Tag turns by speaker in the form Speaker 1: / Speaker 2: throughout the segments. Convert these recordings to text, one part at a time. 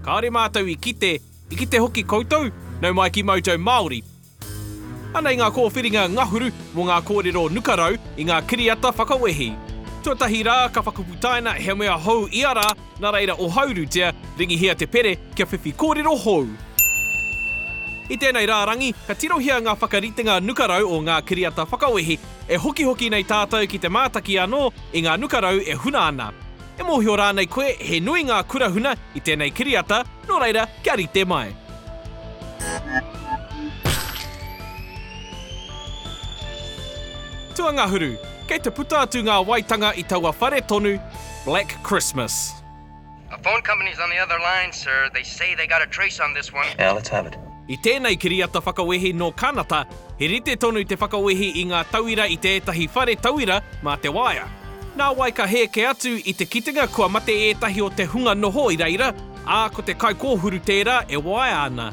Speaker 1: Kāore mātou i kite, i kite hoki koutou, nau mai ki Mojo Māori. Anei ngā kōwhiringa ngahuru mō ngā kōrero nuka rau i ngā kiriata whakawehi. Tuatahi rā ka whakaputaina he mea hou ia rā, nā reira ohaurutia, ringihia te pere kia whiwhi kōrero hou. I tēnei rārangi, ka tirohia ngā whakaritenga nuka rau o ngā kiriata whakawehi, e hokihoki nei tātou ki te mātaki anō i ngā nuka rau e huna ana. E mōhio rānei koe he nui ngā kura huna i tēnei kiriata, nō reira, kia rite mai. Tuangahuru, Kei te puta atu ngā waitanga i taua whare tonu, Black Christmas. A phone
Speaker 2: company's on the other line, sir. They say they got a trace on this one. Now let's have it. I
Speaker 3: tēnei kiriata
Speaker 1: whakawehi nō Kanata, he rite tonu te whakawehi i ngā tauira i te ētahi whare tauira mā te waea. Nā wai ka hēke atu i te kitenga kua mate ētahi o te hunga noho i reira, ā, ko te kaikōhuru tērā e waea ana.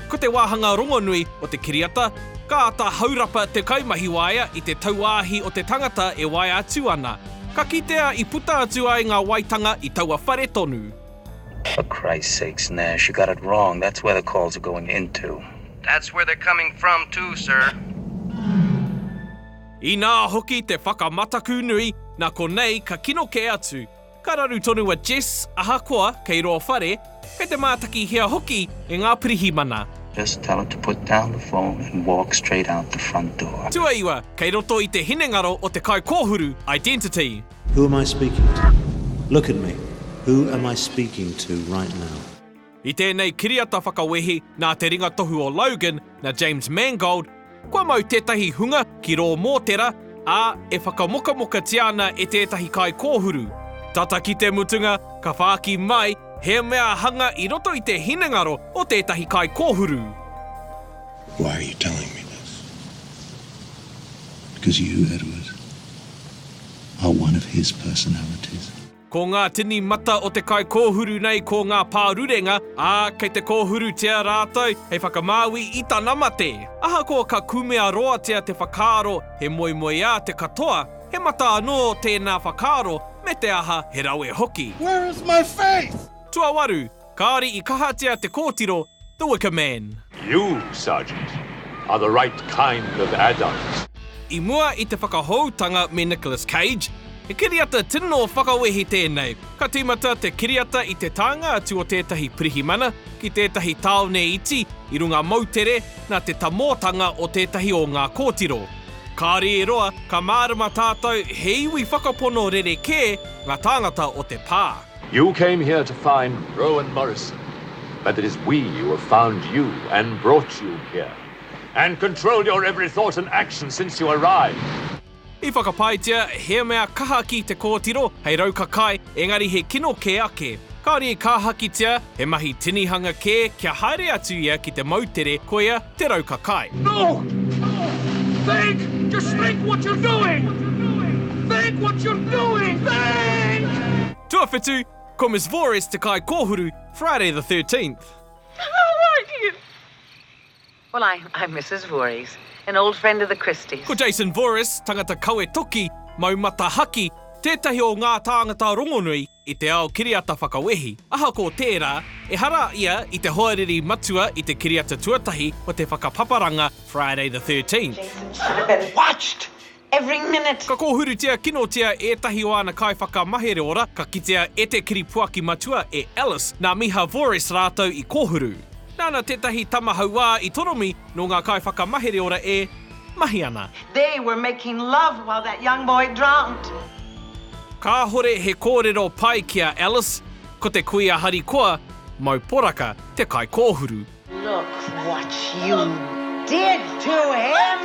Speaker 1: Ko te wāhanga rongonui o te kiriata, ka āta haurapa te kaimahi waea i te tauāhi o te tangata e waea atu ana. Ka kitea i puta atu ai ngā waetanga i taua whare tonu. For
Speaker 3: Christ sakes Nash, you got it wrong, that's where the calls are going into. That's where they're
Speaker 2: coming from too, sir.
Speaker 1: Inā hoki te whakamataku nui, nā konei ka kino kē atu. Ka raru tonu a Jess, ahakoa kei rō whare, kei te mātakihia hoki e ngā pirihimana. Just tell her to put
Speaker 3: down the phone and walk straight out the front door. Tuaiwa, kei roto
Speaker 1: i te hinengaro o te kaikōhuru, identity. Who am I speaking
Speaker 4: to? Look at me, who am I speaking to right now? I tēnei
Speaker 1: kiriata whakawehi nā te ringa tohu o Logan, na James Mangold, kua mau tētahi hunga ki rō mōtera, ā, e whakamokamokatia ana e tētahi kaikōhuru. Tata ki te mutunga, ka whāki mai he mea hanga i roto i te hinengaro o tētahi kaikōhuru.
Speaker 5: Why are you telling me this? Because you knew that it was. are one of his personalities. Ko ngā
Speaker 1: tini mata o te kaikōhuru nei ko ngā pārurenga, ā, kei te kōhurutia rātou hei whakamāui i tana mate. Ahakoa ka kumea roatia te whakaaro he moemoeā te katoa, he mata anō tēnā whakaaro me te aha he rawe hoki. Where is my
Speaker 5: faith? Tuawaru,
Speaker 1: Kāore i kahatia te kōtiro, the wicker man. You, Sergeant,
Speaker 6: are the right kind of adult. I mua i
Speaker 1: te whakahoutanga me Nicholas Cage, he kiriata tino whakawehi tēnei. Ka tīmata te kiriata i te tānga atu o tētahi pirihimana ki tētahi tāone iti i runga moutere nā te tamōtanga o tētahi o ngā kōtiro. Kāore e roa, ka mārama tātou he iwi whakapono rerekē ngā tāngata o te pā. You came here
Speaker 6: to find Rowan Morrison, but it is we who have found you and brought you here, and control your every thought and action since you arrived. I
Speaker 1: whakapaetia he mea kaha ki te kōtiro hei raukakai, engari he kino kē ake. Kāore i kāhakitia he mahi tinihanga kē kia haere atu ia ki te moutere, koia Te Rauka Kai. No!
Speaker 7: Think! Just think what you're doing! Think what you're doing! Think! Tuawhitu,
Speaker 1: Ko Miss Vores te kai kōhuru, Friday the 13th. How are
Speaker 8: you? Well, I, I'm Mrs. Voorhees, an old friend of the Christies. Ko Jason
Speaker 1: Voorhees, tangata kawe toki, mau mata haki, tētahi o ngā tāngata rongonui, I te ao kiriata whakawehi, ahakoa tērā, ehara ia i te hoariri matua i te kiriata tuatahi o te whakapaparanga Friday the
Speaker 8: 13th. Ka kōhurutia kinotia
Speaker 1: ētahi o āna kaiwhakamahere ora, ka kitea e te kiripuaki matua e Alice nā Miha Vores rātou i kōhuru. Nāna tētahi tama hauā i toromi nō ngā kaiwhakamahere ora e. mahi ana. They were making
Speaker 8: love while that young boy drowned.
Speaker 1: Kāhore he kōrero pai ki a Alice, ko te kuia harikoa, mau poraka te kaikōhuru. Look
Speaker 8: what you did to him!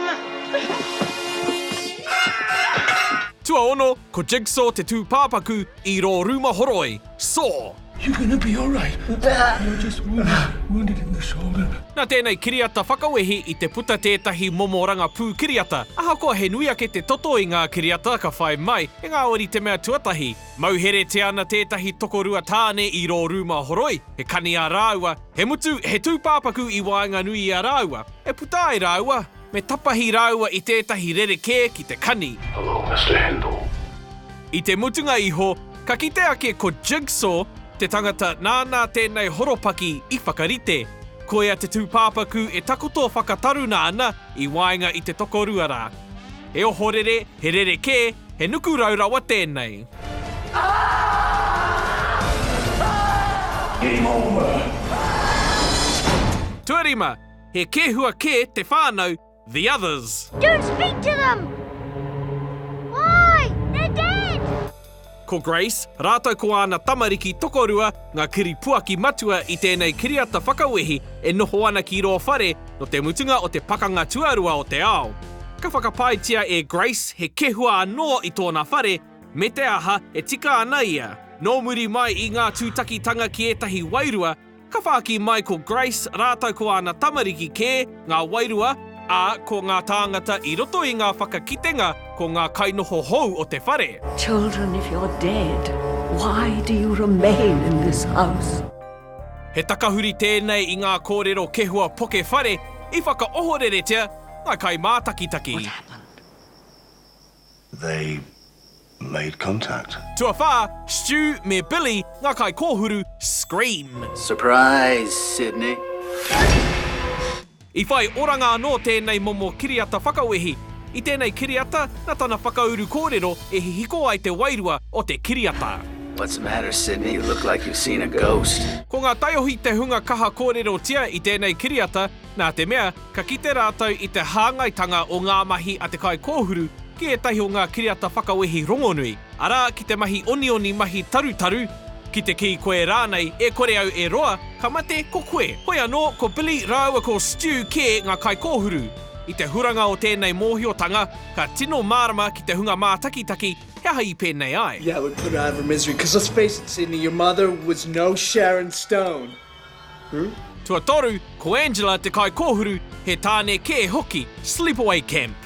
Speaker 1: Tuaono, ko Jigsaw te tūpāpaku i rō rūma horoi, saw. You're gonna be
Speaker 5: alright. You're just wounded, wounded in the shoulder. Nā tēnei kiriata
Speaker 1: whakawehi i te puta tētahi momo rangapū kiriata. Ahakoa he nui ake te toto i ngā kiriata ka whai mai, engāo ri te mea tuatahi, mauheretia ana tētahi tokorua tāne i rō rūma horoi, he kani ā rāua, he mutu he tūpāpaku i waenganui i a rāua, e puta ai rāua, Me tapahi rāua i tētahi rerekē ki te kani. Hello, Mister Handel. I te mutunga iho, ka kite ake ko Jigsaw te tangata nāna tēnei horopaki i whakarite. Koia te tūpāpaku e takoto whakataruna ana i waenga i te tokorua rā. He ohorere, he rerekē, he nuku rau rawa tēnei.
Speaker 5: Game over!
Speaker 1: Tuarima, He kēhua kē te whānau The Others. Don't speak to them!
Speaker 9: Why? They're dead! Ko
Speaker 1: Grace, rātou ko āna tamariki tokorua ngā kiripuaki matua i tēnei kiriata whakawehi e noho ana ki rō whare nō te mutunga o te Pakanga Tuarua o te Ao. Ka whakapaetia e Grace he kēhua anō i tōna whare, me te aha e tika ana ia. Nō muri mai i ngā tūtakitanga ki ētahi wairua, Ka whāki mai ko Grace rātou ko āna tamariki kē, ngā wairua, ā, ko ngā tāngata i roto i ngā whakakitenga ko ngā kainoho hou o te whare. Children if you're
Speaker 10: dead why do you remain in this house? He
Speaker 1: takahuri tēnei i ngā kōrero kehua poke whare i whakaohoreretia ngā kaimātakitaki. What happened?
Speaker 5: they made contact. Tuawhā,
Speaker 1: Stu me Billy, ngā kaikōhuru, scream. Surprise,
Speaker 11: Sydney!
Speaker 1: I whai oranga anō tēnei momo kiriata whakawehi. I tēnei kiriata, na tana whakauru kōrero e hihiko ai te wairua o te kiriata. What's the matter,
Speaker 11: Sydney? You look like you've seen a ghost. Ko ngā taiohi
Speaker 1: te hunga kaha kōrerotia i tēnei kiriata. nā te mea ka kite rātou i te hāngaitanga o ngā mahi a te kaikōhuru ki ētahi o ngā kiriata whakawehi rongonui, arā, ki te mahi onioni mahi tarutaru, ki te kī koe rānei, e kore au e roa, ka mate ko koe. Hoi anō, ko Billy rāua ko Stu kē ngā kaikōhuru. I te huranga o tēnei mōhiotanga, ka tino mārama ki te hunga mātakitaki he aha i pēnei ai. Yeah, we put her out of her
Speaker 12: misery, 'cause let's face it, Sydney, your mother was no Sharon Stone.
Speaker 1: Tuatoru, ko Angela te kaikōhuru, he tāne kē hoki, Sleepaway Camp.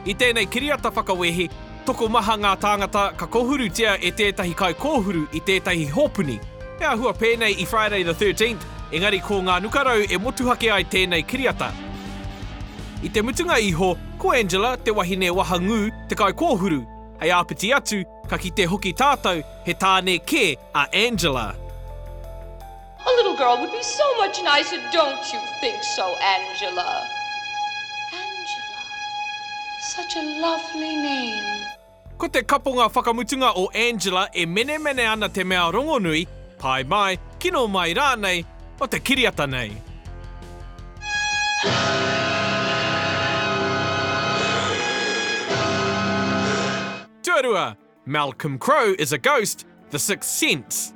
Speaker 1: I tēnei kiriata whakawehi, tokomaha ngā tāngata ka kōhurutia e tētahi kaikōhuru i tētahi hōpuni. He āhua pēnei i Friday the 13th, engari ko ngā nukarau e motuhake ai tēnei kiriata. I te mutunga iho, ko Angela te wahine wahangū te kaikōhuru. Hei āpiti atu, ka kite hoki tātou He tāne kē a Angela.
Speaker 13: A little girl would be so much nicer, don't you think so, Angela? Angela. Such a lovely name. Ko te
Speaker 1: kaponga whakamutunga o Angela e menemene ana te mea rongonui, pai mai, kino mai rānei, o te kiriata nei. Tuarua, Malcolm Crowe is a ghost, The Sixth Sense.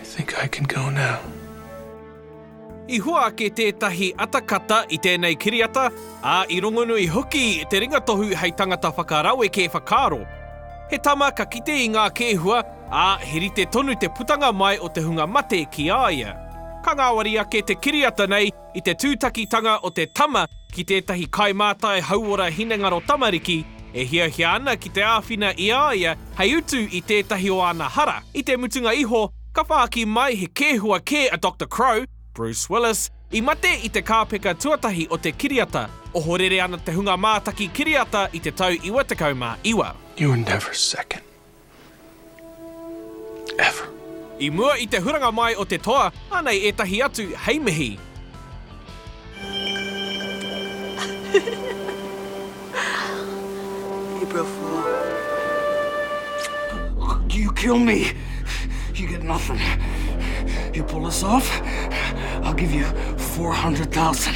Speaker 1: I think I
Speaker 12: can go now.
Speaker 1: I hua ake tētahi atakata i tēnei kiriata, ā, i rongonui hoki te ringatohu hei tangata whakaraweke whakaaro. He tama ka kite i ngā kēhua, ā, he rite tonu te putanga mai o te hunga mate ki a ia. Ka ngāwari ake te kiriata nei, I te tūtakitanga o te tama ki tētahi kaimātai hauora hinengaro tamariki, e hiahia ana ki te āwhina i a ia hei utu i tētahi o āna hara, i te mutunga iho, ka whāki mai he kēhua kē a Doctor Crowe, Bruce Willis, i mate i te kāpeka tuatahi o te kiriata, ohorere ana te hunga mātaki kiriata i te tau 99. You're never
Speaker 12: second. Ever. I mua i
Speaker 1: te huranga mai o te toa, anei ētahi atu hei mihi.
Speaker 11: April Fool. You kill me, you get nothing. You pull this off, I'll give you 400,000.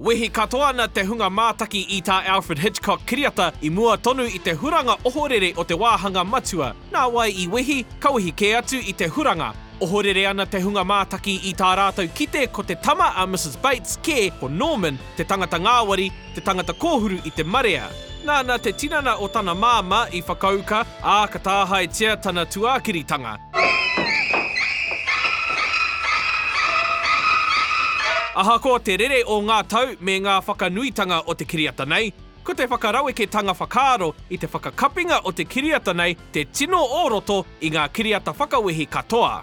Speaker 1: Wehi katoa ana te hunga mātaki i tā Alfred Hitchcock kiriata i mua tonu i te huranga ohorere o te wāhanga matua. Nā wai i wehi? Ka wehi kē atu i te huranga. Ohorere ana te hunga mātaki i tā rātou kite ko te tama a Mrs Bates kē, ko Norman, te tangata ngāwari, te tangata kōhuru i te marea. Nāna te tinana o tana māmā i whakauka, Ā, ka tāhaetia tana tuākiritanga. Ahakoa te rere o ngā tau me ngā whakanuitanga o te kiriata nei, ko te whakaraweketanga whakaaro i te whakakapinga o te kiriata nei te tino o roto i ngā kiriata whakawehi katoa.